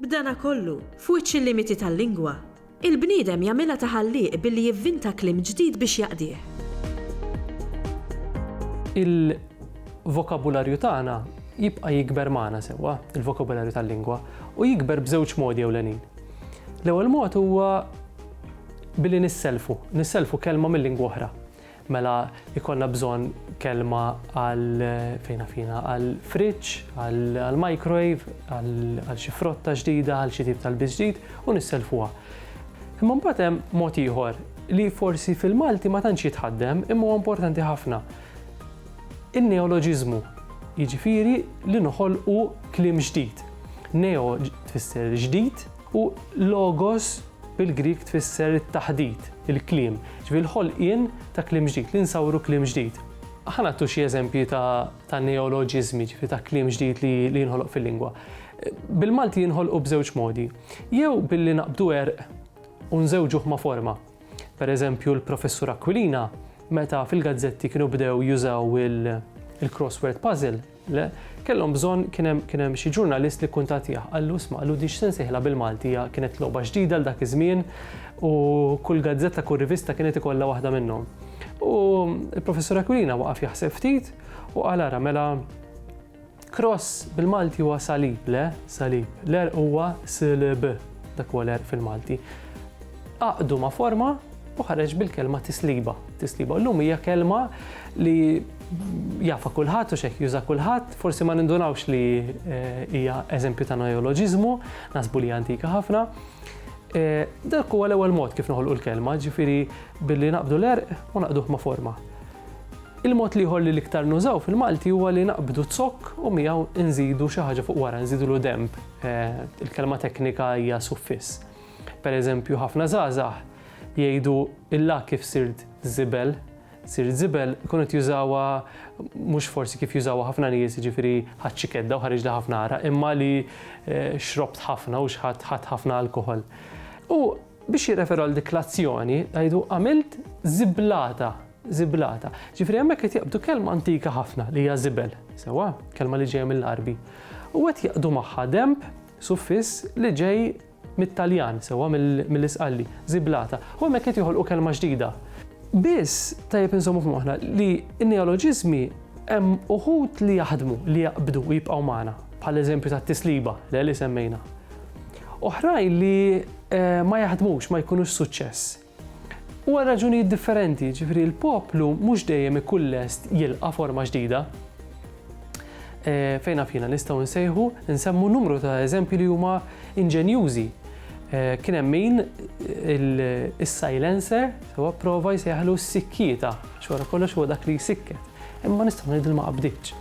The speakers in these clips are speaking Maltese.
B'dana kollu, f'wiċċ il-limiti tal-lingwa, il-bniedem jagħmilha ta' ħallieq billi jivvinta kliem ġdid biex jaqdih. Il-vokabularju tagħna jibqa' jikber magħna sewwa, il-vokabularju tal-lingwa, u jikber b'żewġ modi ewlenin. L-ewwel mod huwa billi nissellfu, nissellfu kelma minn lingwa oħra. Mela jkollna bżonn kelma għal fejna fina għal fridge, għal microwave, għal xi frotta ġdida, għal xi tip tal-biż ġdid u nisselfuha. Imma mbagħad hemm mod ieħor li forsi fil-Malti ma tantx jitħaddem imma huwa importanti ħafna. In-neoloġiżmu, jiġifieri li noħolqu kliem ġdid. Neo tfisser ġdid, U logos bil-Grieg tfisser it-taħdit, il-kliem, ġifieri l-ħolqien ta' kliem ġdid, li nsawru kliem ġdid. Ħa nagħtu xi eżempji ta' neoloġiżmi, ġifieri ta' kliem ġdid li jinħoloq fil-lingwa. Bil-Malti jinħolqu b'żewġ modi, jew billi naqbdu għerq u nżewġuh ma' forma. Per eżempju, l-Professur Aquilina, meta fil-gazzetti kienu bdew jużaw il-crossword puzzle, Le, kellhom bżonn, kien hemm, kien hemm xi ġurnalist li kkuntattjah, qallu, isma', qallu, din x'se nsejħilha bil-Malti, hija kienet logħba ġdida għal dak iż-żmien u kull gazzetta, kull rivista kienet ikollha waħda minnhom. U l-Professur Aquilina waqaf jaħseb ftit u qal ara mela cross bil-Malti huwa salib, le, salib, l-għerq huwa slb, dak huwa l-għerq fil-Malti. Għaqqdu ma' forma u ħareġ bil-kelma tisliba. Tisliba llum hija kelma li jafa kulħadd u xejn juża kulħadd, forsi ma nindunawx li eh, hija eżempju ta' neoloġiżmu, nasbu li antika ħafna. Eh, dak huwa l-ewwel mod kif noħolqu l-kelma, ġifieri billi naqbdu l-erq u naqduh ma' forma. Il-mod liħor li l-iktar nużaw fil-Malti huwa li naqbdu zokk u miegħu nżidu xi ħaġa fuq wara, nżidu l-demb. Eh, il-kelma teknika hija suffiss. Per eżempju, ħafna żgħażagħ jgħidu illa kif sirt żibel, sirt żibel ikunu qed jużawha mhux forsi kif jużawha ħafna nies, jiġifieri ħadd xi kedda u ħareġli ħafna għaraq, imma li eh, xrobt ħafna u xħadd ħadd ħafna alkoħol. U biex jirreferu għal dik l-azzjoni, għajdu għamilt ziblata, ziblata. Ġifri hemmhekk qed jaqbdu kelma antika ħafna li hija żibel, sewa, kelma li ġejja mill-Arbi. U qed jaqdu magħha demb suffiss li ġej mit-Taljan sewwa mill-Isqalli, żiblata, u hemmhekk qed joħolqu kelma ġdida. Biss tajjeb inżommu f'moħħna li n-neoloġiżmi hemm uħud li jaħdmu, li jaqbdu u jibqgħu magħna, bħall-eżempju tat-tisliba, le li semmejna. Oħrajn li ma jaħdmux, ma jkunux suċċess. U għal raġunijiet differenti, jiġifieri l-poplu mhux dejjem ikun lest jilqa' forma ġdida. Fejn naf jiena nistgħu nsejħu nsemmu numru ta' eżempji li huma inġenjużi. Kien hemm min is-silencer sewa prova jsejħlu s-sikkieta, għax wara kollox huwa dak li jsikket. Imma nistgħu ngħidu li ma qabditx.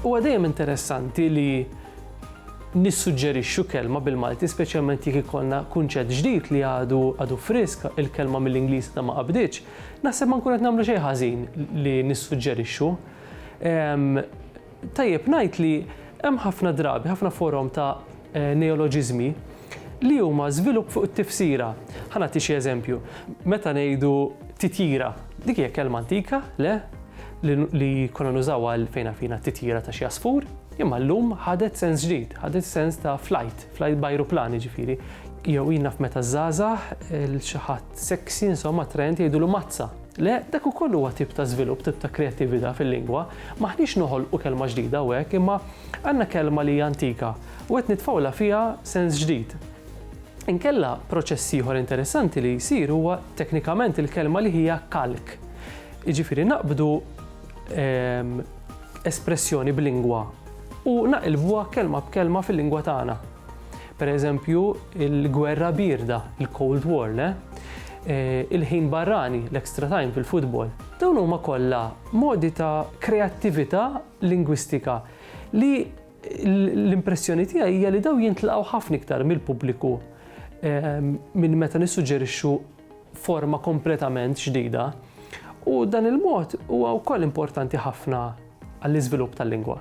Huwa dejjem interessanti li Nissuġġerixxu kelma bil-Malti speċjalment jekk ikollna kunċett ġdid li għadu għadu frisk, il-kelma mill-Ingliż għadha ma qabditx, naħseb ma nkun qed nagħmlu xejn ħażin li nissuġġerixxu. Ehm, tajjeb ngħid li hemm ħafna drabi, ħafna forom ta' eh, neoloġiżmi li huma żvilupp fuq it-tifsira. Ħa nagħti xi eżempju. Meta ngħidu titjira, dik hija kelma antika, le, li konna nużaw għal fejna fina titjira ta' xi asfur, Imma llum ħadet sens ġdid, ħadet sens ta' flight, flight b'ajruplan jiġifieri. Jew ilna f'meta żgħażagħ il xi ħadd sexy insomma attraenti jgħidulu mazza. Le, dak ukoll huwa tip ta' żvilupp, tip ta' kreattività fil-lingwa. M'aħniex noħolqu kelma ġdida hawnhekk, imma għandna kelma li hija antika u qed nitfgħulha fiha sens ġdid. Inkella proċess ieħor interessanti li jsir huwa teknikament il-kelma li hija kalk. Jiġifieri naqbdu espressjoni b'lingwa u naqilbuha kelma b'kelma fil-lingwa tagħna. Per eżempju, il-gwerra birda, il-Cold War, le? Eh, il-ħin barrani, l-extra time fil-futbol. Dawn huma kollha modi ta' kreattività lingwistika li l-impressjoni tiegħi hija li daw jintlaqgħu ħafna iktar mill-pubbliku eh, minn meta nissuġġerixxu forma kompletament ġdida u dan il-mod huwa wkoll importanti ħafna għall-iżvilupp tal-lingwa.